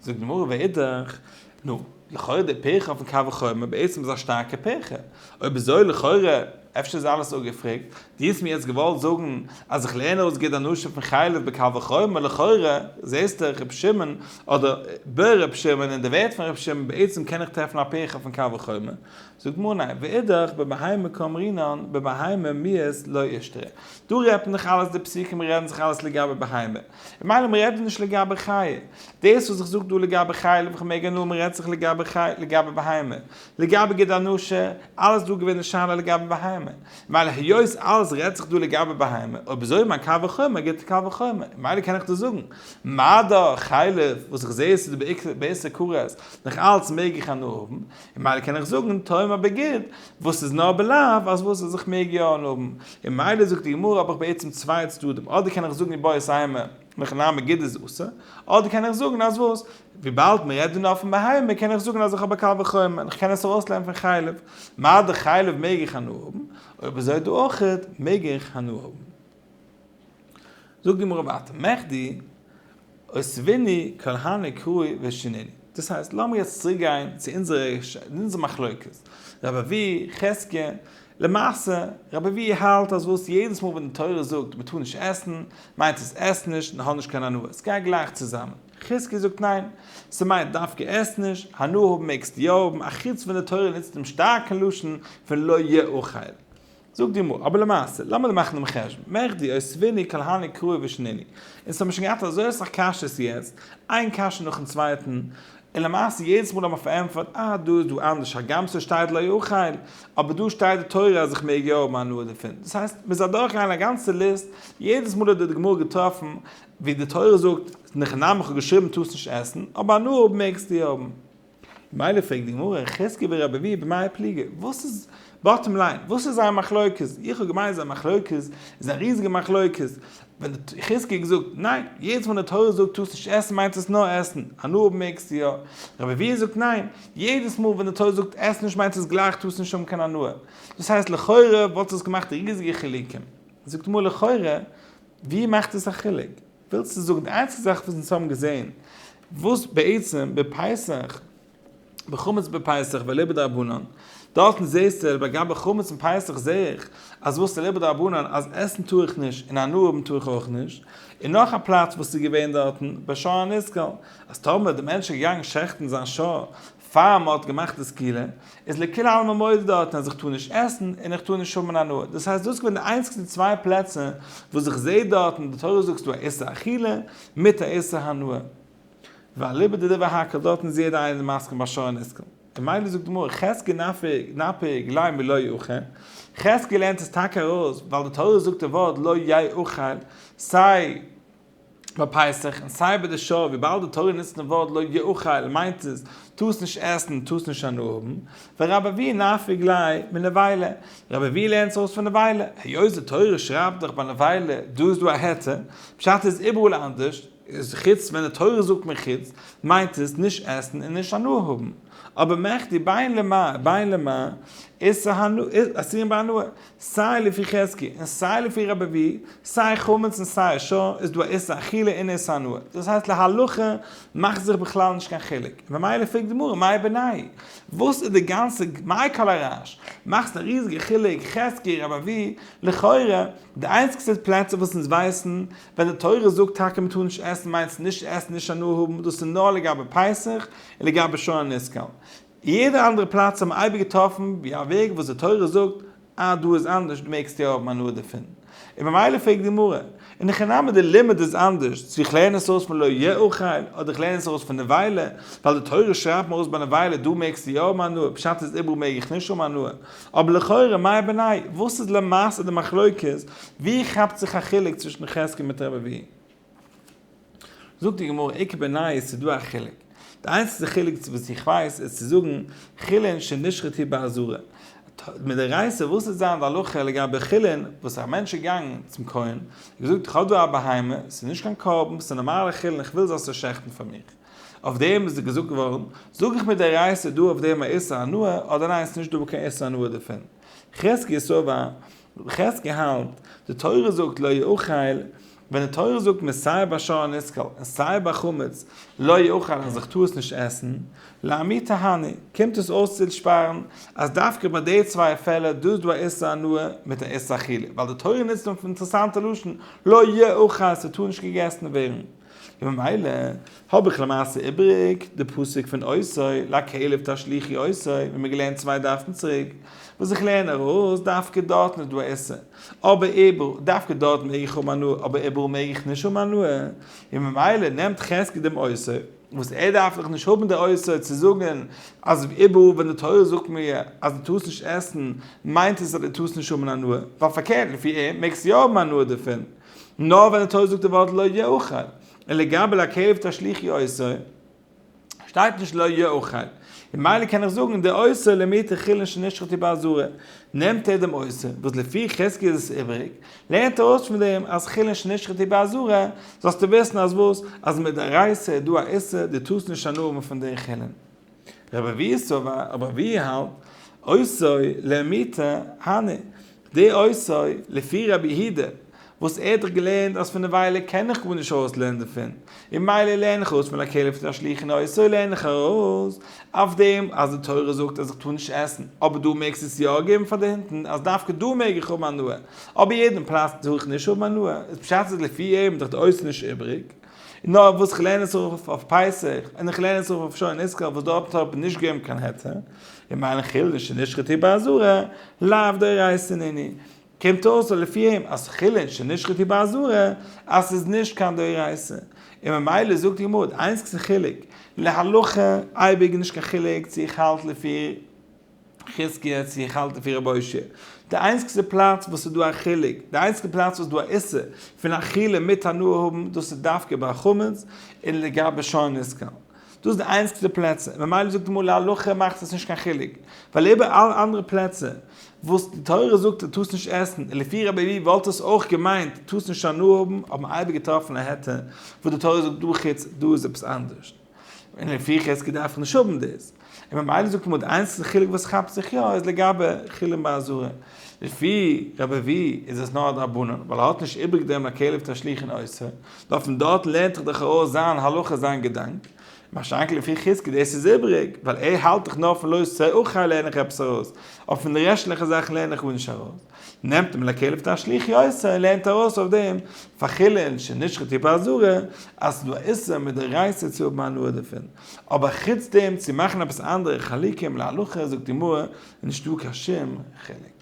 זאגט די גמרא ואידך, נו, לכאורה די פירכא פון קל וחומר בעצם איז א שטארקע פירכא. אויב איז אזוי לכאורה, אפשר איז אלעס אפגעפרעגט, דו האסט מיר יעצט געוואלט זאגן אז איך לערן אויס גוט די נושא פון חלב בקל וחומר לכאורה זעסטו ר' שמעון אדער ב ר שמעון און די ווערטער פון ר' שמעון בעצם קען איך טרעפן א פירכא פון קל וחומר זאגט מר ניין, ואידך, בבהמה קאמרינן, בבהמה מיעס לא אישתרע. דא רעדט מען דאך אלעס די פסוקים רעדן זיך אלעס לגבי בהמה. ממילא מען רעדט דא נישט לגבי חיה. דאס וואס איך זאג דא לגבי חיה לב איך מעג הנאה מען רעדט זיך לגבי חיה לגבי בהמה. לגבי ג ד אנושה, אלעס דא געווען די שאלה לגבי בהמה. ממילא היות אלעס רעדט זיך דא לגבי בהמה, אויב אזוי מיין קל וחומר גיט די קל וחומר. ממילא קען איך דא זאגן, מה דא חיה לב, וואס איך זעה עס איז דא בעיקר בעשר קרות, נאך אלץ מעג איך הנאה האבן. און מילא קען איך זאגן טועם אבער גוט, וואס איז נאר בלאו אז וואס אז איך מעג יא אנהאבן, און מילא זאגט די גמרא האב איך בעצם צוויי צדדים, אדער קען איך זאגן איז בוער סיימא וכן הא מגיד איז אסור, אדער קען איך זאגן אז וואס, וויבאלד מ'רעדט דא נאר פון בהמה קען איך זאגן אז איך האב א קל וחומר און איך קען עס ארויסלערנען פון חלב, מה דכאילו מעג איך הנאה האבן, אויב אזוי דא אויכעט מעג איך הנאה האבן. זאגט די גמרא ווייטער, מחדי אוסביני כל הני קראי ושיניני, דאס הייסט לאמיר יעצט צוריק גיין צו אונזער מחלוקת, רב אבי, חזקיה, למעשה רב אבי האלט אז וואס יעדעס מאל ווען די תורה זאגט מען טאר נישט עסן, מיינט עס עס נישט און האב נישט קיין הנאה, עס גייט גלייך צוזאמען, חזקיה זאגט ניין, ס'מיינט דווקא עס נישט, הנאה האבן מעגסטו יא האבן, א חוץ ווען די תורה נוצט דעם שטארקן לשון פון לא יאכל. זאגט די גמרא, אבער למעשה, לאמיר מאכן דעם חשבון, מעכדי אוספיני כל הני קראי ושניני, אונז האבן שוין געהאט אזוי אסאך קשיות יעצט, איין קשיא נאכן צווייטן, און למעשה יעדעס מאל האבן מיר פארענטפערט, אה, דא איז דא אנדערש, הגם ס'שטייט לא יאכל, אבער דא שטייט די תורה אז איך מעג יא האבן הנאה דערפון, דאס הייסט, מ'איז אדורכגעגאנגען א גאנצע ליסט, יעדעס מאל האט די גמרא געטראפן ווי די תורה זאגט, נחנם איך האב געשריבן טוסט נישט עסן, אבער הנאה האבן מעגסטו האבן. ממילא פרעגט די גמרא, חזקי ורבי אביהוא במאי פליגי, וואס איז, באטטעם ליין, וואס איז זייער מחלוקת, איך האב געמיינט זייער מחלוקת איז א ריזיגע מחלוקת, ווען חזקי האט געזאגט, ניין, יעדעס מאל די תורה זאגט טארסט נישט עסן מיינט עס נאר עסן, הנאה האבן מעגסטו יא, רבי אביהוא זאגט ניין, יעדעס מאל ווען די תורה זאגט עס נישט מיינט עס גלייך טארסט נישט האבן קיין הנאה, דאס הייסט לכאורה וואלט עס געמאכט ריזיגע חילוקים, זאגט די גמרא לכאורה, ווי מאכט עס א חילוק? ווילסט צו זאגן די איינציגסטע זאך וואס אונז האבן געזען וואס בעצם בפסח בחמץ בפסח ולא בדרבנן דארטן זעסטו לגבי חמץ און פסח זעה איך אז וואס איז לא בדרבנן אז עסן טאר איך נישט און הנאה האבן טאר איך אויך נישט און נאך א פלאץ וואס איז געווען דארטן בשער הניזקל אז טאמער די מענטש איז געגאנגען שעכטן זיין שער פאר מען האט געמאכט די סקילה איז לכולי עלמא מודי דארטן אז איך טאר נישט עסן און איך טאר נישט האבן אן הנאה, דאס הייסט דאס איז געווען די איינציגסטע צוויי פלעצער וואס איך זעה דארטן די תורה זאגסט דא א איסור אכילה מיט א איסור הנאה, ואליבא דדבר האקל דארטן איז יעדער איינער מסכים ביי שרון איסקל, און מילא זאגט די גמרא חזקי נפי גלי' מלא יאכל, חזקי לערנט עס טאקע ארויס ווייל די תורה זאגט די ווארט לא יאכל סיי ביי פסח, און סיי ביי די שעה, וויבאלד די תורה נוצט דעם ווארט לא יאכל מיינט עס, טוס נישט עסן און טוס נישט הנאה האבן, ורב אבי נפיק ליה מנבילה, רב אבי לערנט עס אויס פון נבילה, היות די תורה שרייבט דאך ביי נבילה, דא איז דא א היתר, פשט איז איבעראל אנדערש, איז חוץ ווען די תורה זאגט מחוץ, מיינט עס נישט עסן און נישט הנאה האבן, אבער מעכ די ביין למה, ביין למה, איסור הנאה, אסור ביי הנאה, סיי לפי חזקי און סיי לפי רבבי, סיי חמץ און סיי אשה, איז דא א איסור אכילה און איסור הנאה, דאס הייסט להלכה מאכט זיך בכלל נישט קיין חילוק, ממילא פרעגט די גמרא מאי בני', וואס איז די גאנצע מאי כל הרעש, מאכסט א ריזיגע חילוק חזקי רבבי, לכאורה די איינציגסטע פלעצער וואס אונז ווייסן ווען די תורה זאגט טאקע מען טאר נישט עסן מיינט עס נישט עסן נישט הנאה האבן דאס איז נאר לגבי פסח און לגבי שור הנסקל, אין יעדע אנדערע פלאץ האט מען אייביג געטראפן ווי א וועג וואס די תורה זאגט אז דא איז אנדערש דו מעגסט יא האבן הנאה דערפון, און במילא פרעגט די גמרא, און הכי נמי די לימוד איז אנדערש צו איך לערן עס אויס פון לא יאכל אדער איך לערן עס אויס פון נבילה, ווייל די תורה שרייבט מיר אויס ביי נבילה דא מעגסטו יא האבן הנאה פשט איז איבעראל מעג איך נישט האבן הנאה, אבער לכאורה מאי ביני' וואס איז למעשה די מחלוקת ווי כאפט זיך א חילוק צווישן חזקי מיט רבא ווי? זאגט די גמרא עיקר בעיני איז צו דא א חילוק. די איינציגסטע חילוק צו וואס איך ווייס איז צו זאגן חילין שנשחט היא באזהרה. מדאורייתא וואס איז זיין די הלכה לגבי חילין וואס א מענטש איז געגאנגען צום כהן און געזאגט איך האב דא א בהמה ס'איז נישט קיין קרבן ס'איז נארמאלע חילין איך וויל זאלסט עס שעכטן פאר מיך. אויף דעם איז געזאגט געווארן זאג איך מדאורייתא דא אויף דעם א איסור הנאה אדער ניין ס'איז נישט דא קיין איסור הנאה דערפון. חזקי סובר חז ל האלט, די תורה זאגט לא יאכל, ווען די תורה זאגט מען סיי ביי שור הנסקל און סיי ביי חמץ לא יאכל אז איך טאר עס נישט עסן, לעמי תהני, קומט עס אויס צו שפארן אז דווקא ביי די צוויי פעלער דא איז דא א איסור הנאה מיט א איסור אכילה, ווייל די תורה נוצט אינטערעסאנטע לשון לא יאכל ס'טאר נישט געגעסן ווערן. וממילא האב איך למעשה איבריג די פסוק פון עשו לכלב תשליכי עשו ווי מיר געלערנט צוויי דפים צוריק, וואס איך לערן ארויס דווקא דארטן איז דא עשו, אבער איבר, דווקא דארט מעג איך האבן הנאה אבער איבעראל מעג איך נישט האבן הנאה, און ממילא נעמט חזקי דעם עשו, וואס ער דארף דאך נישט האבן די עשו צו זאגן אז איבעראל ווען די תורה זאגט מיר אז דו טארסט נישט עסן מיינט עס אז דו טארסט נישט האבן הנאה, ווייל פארקערט לפי אים מעגסטו יא האבן הנאה דערפון, נאר ווען די תורה זאגט די ווארט לא יאכל, און לגבי לעכב תשליך יעשה, שטייט נישט לא יאכל, ממילא קען איך זאגן די עושה למי תחילין שנשחטו באזהרה, נעמט ער דעם עושה, וואס לפי חזקי איז עס איבעריג, לערנט ער אויס פון דעם אז חילין שנשחטו באזהרה, זאלסטו וויסן אז וואס? אז מדאורייתא איז דא א איסור, דו טארסט נישט הנאה האבן פון די חילין. רבי אביהו סובא, רבי אביהו האלט, עושוי לאמיתא הני, די עושוי, לפי רבי יהודה, וואס ער האט דאך געלערנט אז פון די וויילער קען איך גארנישט ארויסלערנען דערפון, און מילא לערן איך ארויס פון א כלב צו א שליח און עושוי לערן איך ארויס אויף דעם אז די תורה זאגט אז איך טאר נישט עסן, אבער דא מעגסטו עס יא געבן פאר די הינטן אז דווקא דא מעג איך האבן הנאה, אבער יעדן פלאץ טאר איך נישט האבן הנאה, איז פשט אז לפי אים איז דאך די עושוי נישט איבריג. נאר וואס איך לערן עס אויף אויף פסח, און איך לערן עס אויף אויף שור ונשקל וואס דארט האט מען נישט געגעבן קיין היתר, און מיין חילול שנשחטו בעזרה, לאו דאורייתא הנני, קומט אויס אז לפי אים אז חילול שנשחטו בעזרה אז ס'איז נישט קיין דאורייתא, און ממילא זאגט די גמרא די איינציגסטע חילוק להלכה אייביג נישט קיין חילוק צו איך האלט לפי חזקיה צו איך האלט לפי רבי הושע, די איינציגסטע פלאץ וואס איז דא א חילוק, די איינציגסטע פלאץ וואס איז דא א איסור פון אכילה מיט הנאה האבן, דאס איז דווקא ביי חמץ און לגבי שור נשכל. דאס איז די איינציגסטע פלעצער, ממילא זאגט די מלא הלכה מאכט עס נישט קיין חילוק, ווייל איבער אלע אנדערע פלעצער וואס די תורה זאגט ער טארס נישט עסן, און לפי רבי לוי וואלט עס אויך געמיינט טארס נישט הנאה האבן, האט מען אייביג געטראפן א היתר וואס די תורה זאגט דא חוץ דא איז עפעס אנדערש. און לפי חזקה דארף איך נישט האבן דאס, און ממילא זאגט עמוד איינציגסטע חילוק וואס כאפט זיך יא איז לגבי חולין באזהרה, לפי רב אבי איז עס נאר א דרבנן ווייל ער האט נישט איבריג דעם הכלב תשליך אין אוסר, נו פון דארט לערנט זיך דאך ארויס זיין הלכה זיין געדאנק, מה שאין כן לפי חזקה דאס איז איבריג, ווייל ער האלט דאך נאר פון לא עושה אוכל לערן איך עפעס ארויס, אבער פון די רעשטליכע זאכן לערן איך גארנישט ארויס. נעמט אים לכלב תשליך יוסע און לערנט ארויס אויף דעם פאר חולין שנשחט טיפה אזורה אז ס'איז דא א איסור מדאורייתא צו האבן הנאה דערפון, אבער חוץ דעם צו מאכן עפעס אנדערע חלקים להלכה זאגט די גמרא איז נישטא קיין שום חילוק.